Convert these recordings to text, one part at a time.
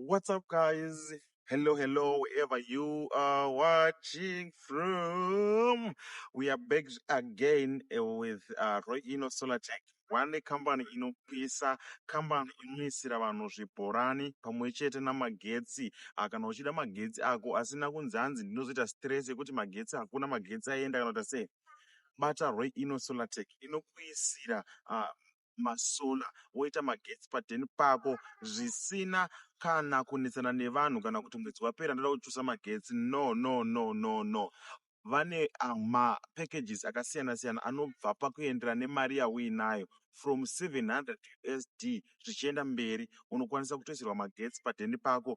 What's up guys? Hello, hello, wherever you are watching from. We are back again eh, with uh, Roy Ino Solar Tech. One company inopisa kambani inoisira vanhu zvibhorani pamwe chete namagetsi Ah, kana uchida magetsi ako asina kunzi hanzi ndinozoita stress yekuti magetsi hakuna magetsi aenda kana kuti sei bata Roy Ino Solar Tech inokuisira ah, masolar woita magetsi paden pako zvisina kana kunetsana nevanhu kana kuti mwedzi wapera ndoda kuchusa magetsi no no no no no vane ah, mapackages akasiyana siyana anobva pakuendera nemari yauinayo from 700 usd zvichienda mberi unokwanisa kutoisirwa magetsi padheni pako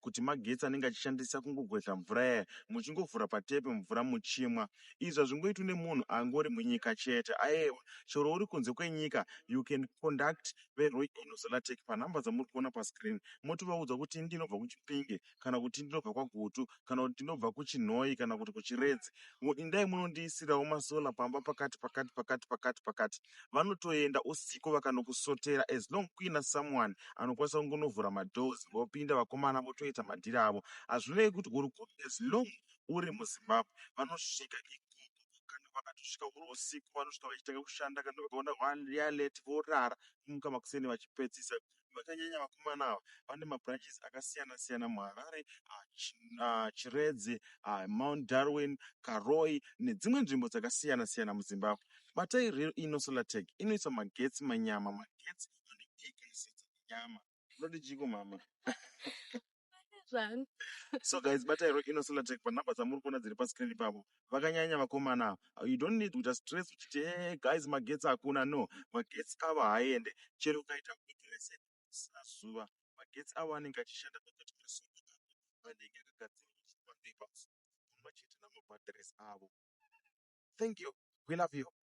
kuti magetsi anenge achishandisa kungogwedhla mvura yaya muchingovhura patepi mvura muchimwa izvi hazvingoitwi nemunhu angori munyika chete aewa chero uri kunze kwenyika you can conduct veRoy Inozolatech panhamba dzamuri kuona pascreen motovaudza kuti ini ndinobva kuChipinge kana kuti ndinobva kwaGutu kana kuti ndinobva kuChinhoyi kana kuti kuChiredzi indai munondiisirawo masolar pamba pakati pakati pakati pakati pakati vanotoenda usiku vakanokusotera as long kuina someone anokwanisa kungonovhura madoors vopinda vakomana votoita madhiri avo hazvinei kuti uri kupi as long uri muzimbabwe vanosvika ikoko kana vakatosvika uri usiku vanosvika vachitanga kushanda kana vakaona vari late vorara kumuka makuseni vachipedzisa vakanyanya vakomana ava vane mabranches akasiyana siyana muHarare, Chiredzi, Mount Darwin, Karoi nedzimwe nzvimbo dzakasiyana siyana muZimbabwe. Batai Real Ino Solar Tech inoisa magetsi manyama, magetsi anopika sadza nenyama. Unoti chiiko mhamha? zvangu so guys batairo inosola attack panumber dzamuri kuona dziri pascreen ipapo vakanyanya vakomana ava you don't need kuita stress uchiti e eh, guys magetsi hakuna no magetsi ava haaende chero ukaita kudrese sina zuva magetsi avo anenge achishanda pakati pesoka anenge akagadzirwa chipapers pamwe chete namabadres avo thank you we love you